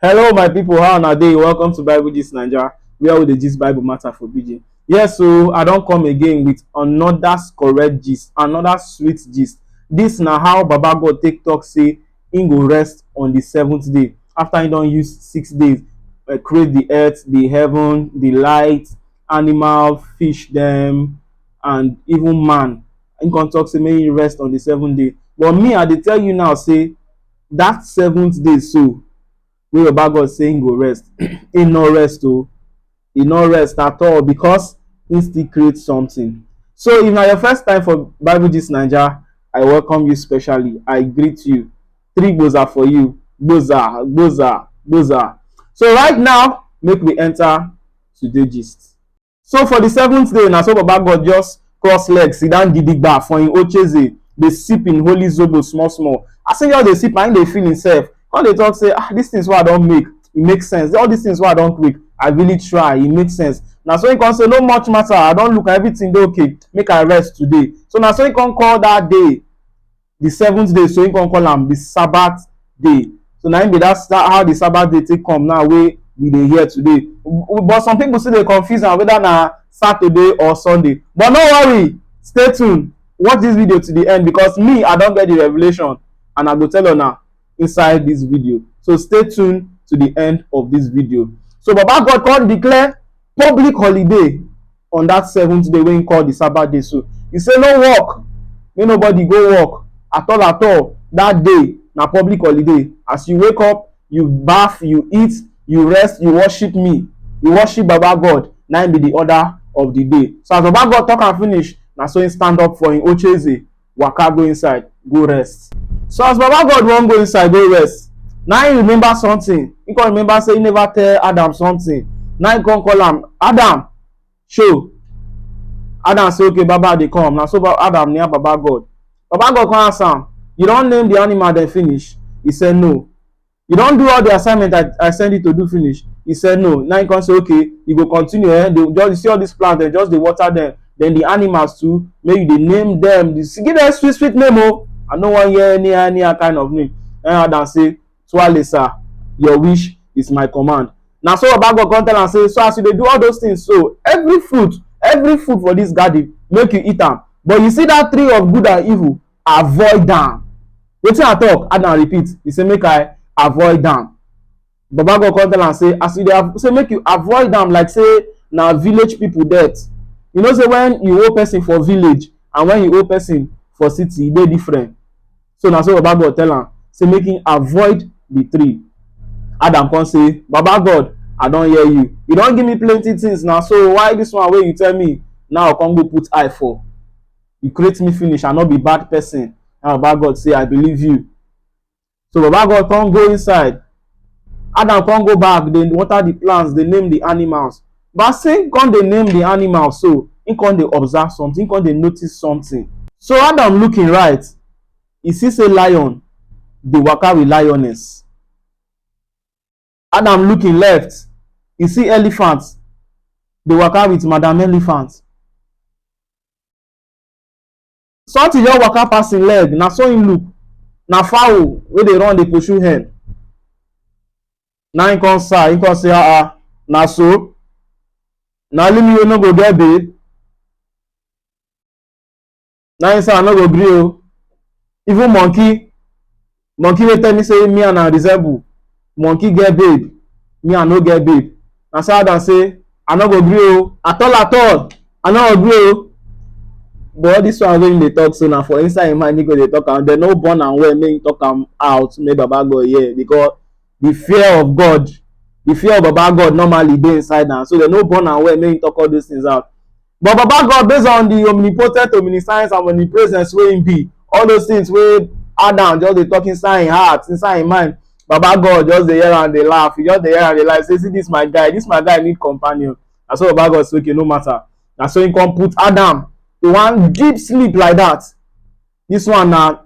Hello, my people. How are they? Welcome to Bible Gist Nigeria, where we the gist Bible matter for BJ. Yes, so I don't come again with another correct gist, another sweet gist. This now how Baba God take talk say he go rest on the seventh day after he don't use six days uh, create the earth, the heaven, the light, animal, fish, them, and even man. He can talk say make he rest on the seventh day. But me, I dey tell you now say that seventh day so wey baba god say him go rest he no rest o he no rest at all because he still create something so if na your first time for bible gist naija i welcome you specially i greet you three gboza for you gboza gboza gboza so right now make we enter today gist. so for the seventh day na so baba god just cross leg sit down gidigba for him ocheze dey sip him holy zobo small small as him just dey sip na him dey feel himself come dey talk say ah these things wey i don make e make sense all these things wey i don make i really try e make sense na so him come say no much matter i don look everything dey okay make i rest today so na so him come call that day the seventh day so him come call am the sabbath day so na him be that that how the sabbath day take come now wey we dey hear today W- but some people still dey confuse am whether na saturday or sunday but no worry stay tuned watch this video to the end because me i don get the revelation and i go tell una inside this video so stay tuned to the end of this video so baba god come declare public holiday on that seventh day wey he call the sabbath day so he say no work make nobody go work at all at all that day na public holiday as you wake up you baff you eat you rest you worship me you worship baba god na him be the order of the day so as baba god talk am finish na so him stand up for him ocheze waka go inside go rest so as baba god wan go inside go rest na him remember something he come remember say he never tell adam something na him come call am adam show adam say okay baba dey come na so adam near baba god baba god come ask am you don name the animal dem finish he say no you don do all the assignment i i send you to do finish he said no now he come say okay you go continue eh they just you see all these plants dem just dey water them then the animals too make you dey name them the give them sweet sweet name o oh. i no wan hear any any kind of name and adam say twale sir your wish is my command na so baba god come tell am say so as you dey do all those things so every fruit every fruit for this garden make you eat am but you see that tree of good and evil avoid am wetin i talk add and repeat he say make i avoid am baba god come tell am say as you dey av- say make you avoid am like say na village people death you know say when you owe person for village and when you owe person for city e dey different so na so baba god tell am say make him avoid the tree adam come say baba god i don hear you you don give me plenty things na so why this one wey you tell me now i come go put eye for you create me finish i no be bad person and baba god say i believe you so baba god come go inside adam come go back dey water the plants dey name the animals but as him come dey name the animals so him come dey observe something him come dey notice something so adam look him right he see say lion dey waka with lioness Adam look im left, e see elephant dey waka with madam elephant. Something just waka pass im leg, na so im look, na fowl wey dey run dey pursue hen. Na im come sigh, im come say ah ah, na so? Na only me wey no go get babe? na him say i no go gree o even monkey monkey wey tell me say me and am resemble monkey get babe me i no get babe na so adam say i no go gree o at all at all i no go gree o but all this one wey him dey talk so na for inside him mind he go dey talk am dem no born am well make him talk am out make baba god hear because the fear of god the fear of baba god normally dey inside am so dem no born am well make him talk all those things out But Baba God, based on the omnipotent, omniscience, and omnipresence wey him be, all those things wey Adam just dey talk inside him heart, inside him mind, Baba God just dey hear am dey laugh, he just dey hear am dey laugh, say see this my guy, this my guy need companion. Na so Baba God say okay no matter. Na so he come put Adam to one deep sleep like that. This one na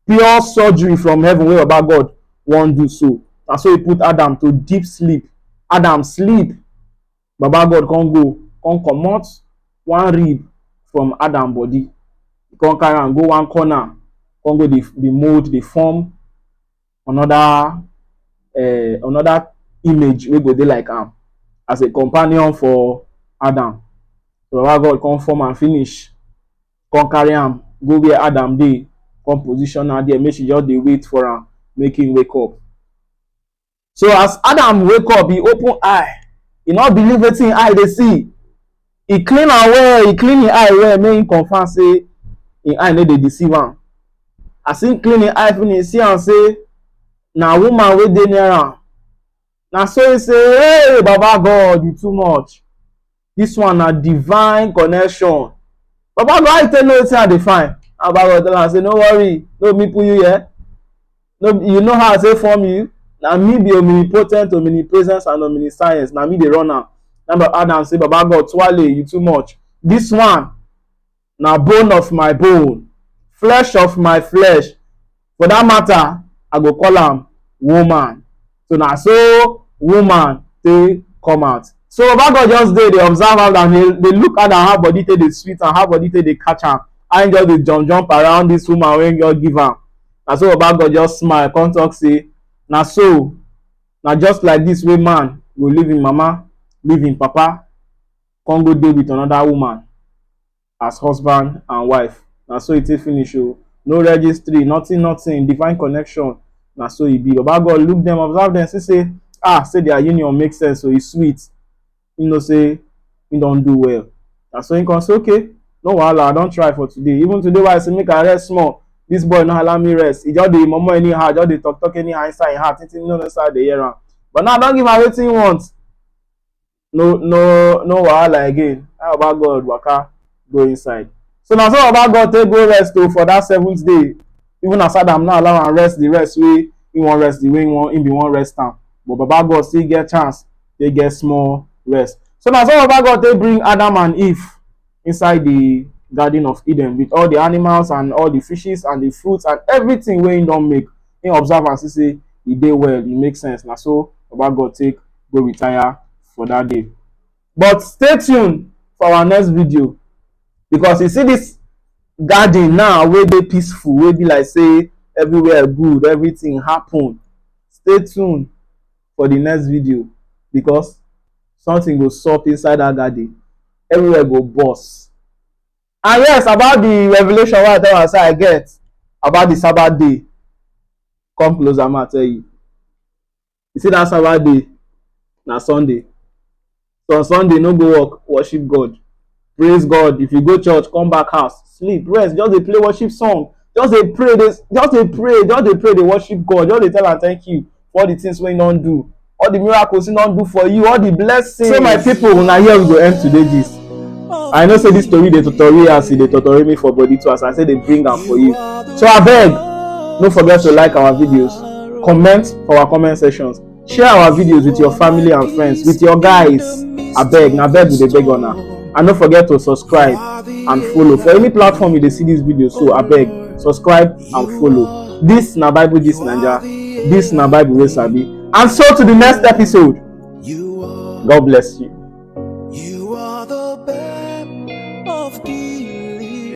pure surgery from heaven wey Baba God wan do so. Na so he put Adam to deep sleep. Adam sleep Baba God come go come comot one rib from Adam body, e come carry am go one corner, come go dey dey mold, dey form another um another image wey go dey like am as a companion for Adam. Baba God come form am finish, come carry am go where Adam dey, come position am there make she just dey wait for am make im wake up. So as Adam wake up, he open eye. He no believe wetin him eye dey see. He clean am well, he clean him eye well, make him confirm say him eye no dey deceive am. As him clean him eye finish, he see am say na woman wey dey near am. Na so he say, hey Baba God, you too much. this one na divine connection baba go how you take know wetin i dey find and baba go tell am say no worry no me put you here no you know how i take form you na me be omnipotent omnipresence and omniscience na me dey run am na baba adam say baba god twale you too much this one na bone of my bone flesh of my flesh for that matter i go call am woman so na so woman take come out so baba god just dey dey observe am and dey dey look at am how body take dey sweet am how body take dey catch am how him just dey jump jump around this woman wey him just give am na so baba god just smile come talk say na so na just like this way man go leave him mama leave him papa come go dey with another woman as husband and wife na so e take finish o no registry nothing nothing divine connection na so e be baba god look them observe them see say ah say their union make sense o e sweet he know say he don do well na so he come say okay no wahala i don try for today even today wey i say make i rest small this boy no allow me rest he just dey momo anyhow just dey talk talk anyhow inside him heart thinking no know say i dey hear am but now i don give am wetin he want no no no wahala again how baba god waka go inside so na so baba god take go rest o for that seventh day even as adam no allow am rest the rest wey he wan rest the way he wan he bin wan rest am but baba god still get chance take get small rest so na so baba god take bring adam and eve inside the garden of eden with all the animals and all the fishes and the fruits and everything wey him don make him observe am see say e dey well e make sense na so baba god take go retire for that day but stay tuned for our next video because you see this garden now wey dey peaceful wey be like say everywhere good everything happen stay tuned for the next video because something go sup inside that garden everywhere go burst and yes about the revelation wey i tell am say i get about the sabbath day come closer ma tell you you see that sabbath day na sunday so on sunday no go work worship god praise god if you go church come back house sleep rest just dey play worship song just dey pray dey just dey pray just dey pray dey worship god just dey tell am thank you for all the things wey he don do all the miracles he don do for you all the blessings. so my people una here we go end today gist i know say this story dey totori as e dey totori me for body too as i say dey bring am for you so abeg no forget to like our videos comment for our comment sections share our videos with your family and friends with your guys abeg na abeg we dey beg una and no forget to subscribe and follow for any platform you dey see this video so abeg subscribe and follow this na bible this naija this na bible wey sabi and so to the next episode You are, god bless you. you are the best of the